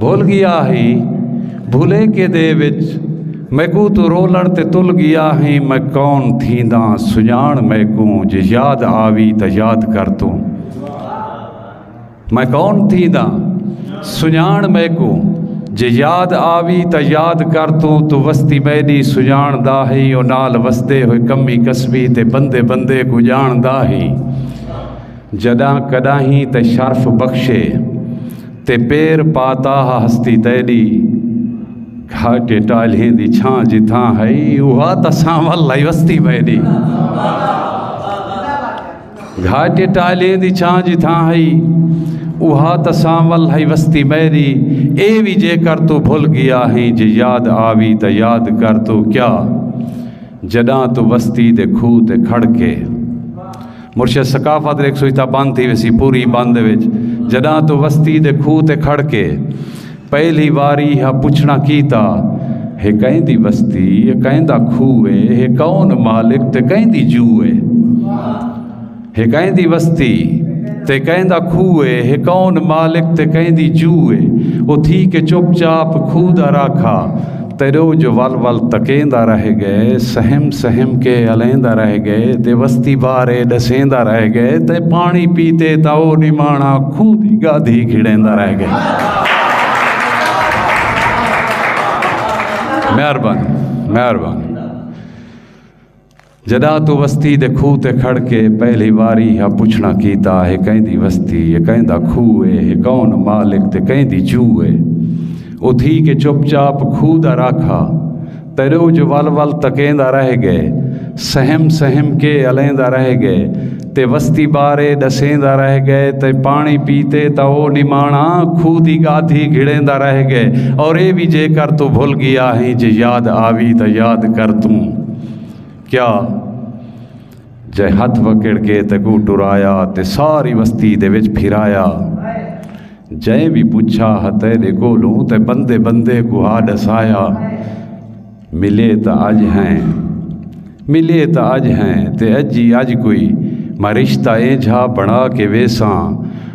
بھل گیا ہیں بھلیکے دے وچ میکوں توں رولݨ تے تل گیا ہیں میں کون تھینداں سنڄاݨ میکوں جے یاد آوی تاں یاد کر توں میں کون تھینداں سنڄاݨ میکوں جے یاد آوی تا یاد کر تو تو وستی میری سجان دا ہی او نال وسدے ہوئے کمی کسبی تے بندے بندے کو جان دا ہی جڈاں کڈاہیں تے شرف بخشے تے پیر پا تاہ ہستی تیڈی کھا کے ٹالھیں دی چھاں جتھاں ہئی اوہا تاں سانول لئی وستی میڈی گھا کے ٹالھیں دی چھاں جتھاں ہئی اوہا تاں سانول ہئی وستی میری اے بھی جے کر تو بھول گیا ہیں جے یاد آوی تا یاد کر تو کیا جڈاں تو وستی دے کھو تے کھڑ کے مرشد ثقافت ریک سویتا بند تھی ویسی پوری بند وچ جڈاں تو وستی دے کھو تے کھڑ کے پہلی واری ہا پچھنا کیتا ہے کہیں دی وستی ہے کہیں دا کھو ہے ہے کون مالک تے کہیں دی جو ہے ہے کہیں دی وستی تے کہیں دا کھو ہے ہے کون مالک تے کہیں دی جو ہے او تھی کے چپ چاپ کھو دا راکھا تیرو جو ول ول تکیندا رہ گئے سہم سہم کے الیندا رہ گئے تے وستی بارے ڈسیندا رہ گئے تے پانی پیتے تا او نمانا کھو دی گادھی کھڑیندا رہ گئے مہربانی مہربانی جدا تو وستی دے کھو تے کھڑ کے پہلی واری ہا پچھنا کیتا ہے کہیں دی وستی ہے کہیں دا کھو ہے ہے کون مالک تے کہیں دی چو ہے او تھی کے چپ چاپ کھو دا راکھا تیرو جو ول ول تکیں دا رہ گئے سہم سہم کے الیں دا رہ گئے تے وستی بارے دسیں دا رہ گئے تے پانی پیتے تا او نمانا کھو دی گادھی گھڑیں دا رہ گئے اور اے بھی جے کر تو بھول گیا ہیں جے یاد آوی تا یاد کر توں کیا جے ہتھ وکڑ کے تے گو ٹرایا تے ساری وستی دے وچ پھرایا جے بھی پوچھا ہتے دے کولوں تے بندے بندے کو ہا ڈسایا ملے تا اج ہیں ملے تا اج ہیں تے اج ہی اج کوئی میں رشتہ اے جھا بنا کے ویساں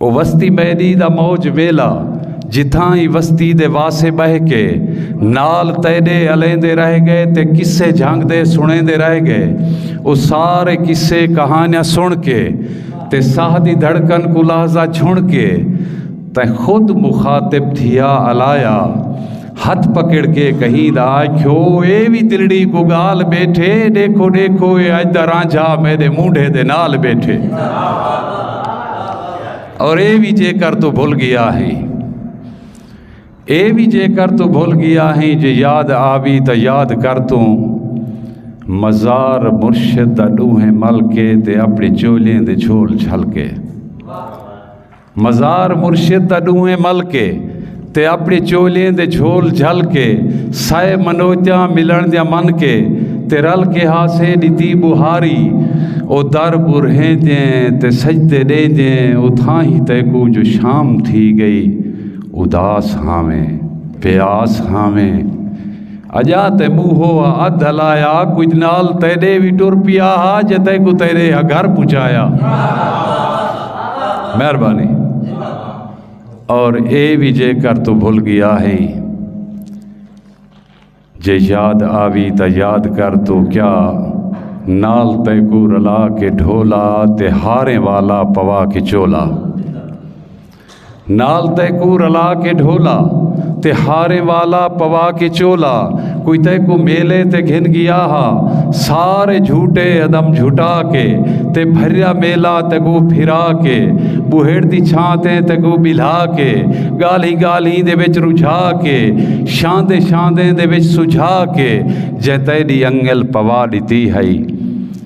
او وستی میڈی دا موج ویلا جتھاں ای وستی دے واسے بہہ کے نال تیڈے الیندے رہ گئے تے قصے جھنگ دے سنیندے رہ گئے او سارے قصے کہانیاں سن کے تے ساہ دی دھڑکن کو لحظہ چھن کے تیں خود مخاطب تھیا الایا ہتھ پکڑ کے کہیندا آکھیو اے وی دلڑی کو گال بیٹھے ڈیکھو ڈیکھو اے اج دا رانجھا میرے مونڈھے دے نال بیٹھے اور اے وی جے کر تو بھول گیا ہے اے وی جے کر تو بھول گیا ہے جے یاد آوی تا یاد کر تو مزار مرشد دا ڈوہیں مل کے تے اپنے چولیں دے چھول چھل کے مزار مرشد دا ݙوہیں مل کے تے اپݨی چولھیں دے جھول جھل کے سئے منوتیاں ملݨ دیاں من کے تے رل کے ہاسے ݙتی ٻوہاری او در ٻرہیندیں تے سجدے ݙیندیں اتھاہیں تیکوں جو شام تھی ڳئی اداس ہاویں پیاس ہاویں اجاں تے موہو ء ادھ ہلایا کجھ نال تیڈے وی ٹر پیا ہا جے تیکوں تیڈے ہ گھر پہنچایا مہربانی اور اے وی جے کر تو بھول گیا ہے جے یاد آوی تا یاد کر تو کیا نال تیکو رلا کے ڈھولا تے ہاریں والا پوا کے چولا نال تئے کوں رلا کے ڈھولا تے ہاریں والا پوا کے چولا کوئی تئے کوں میلے تے گھن گیا ہا سارے جھوٹے ادم جھٹا کے تے بھریا میلا تے کو پھرا کے بوہڑ دی چھان تے تے کو بلھا کے گالیں گالیں دے وچ رجھا کے شاندے شاندے دے وچ سجھا کے جے تیڈی انگل پوا ڈتی ہئی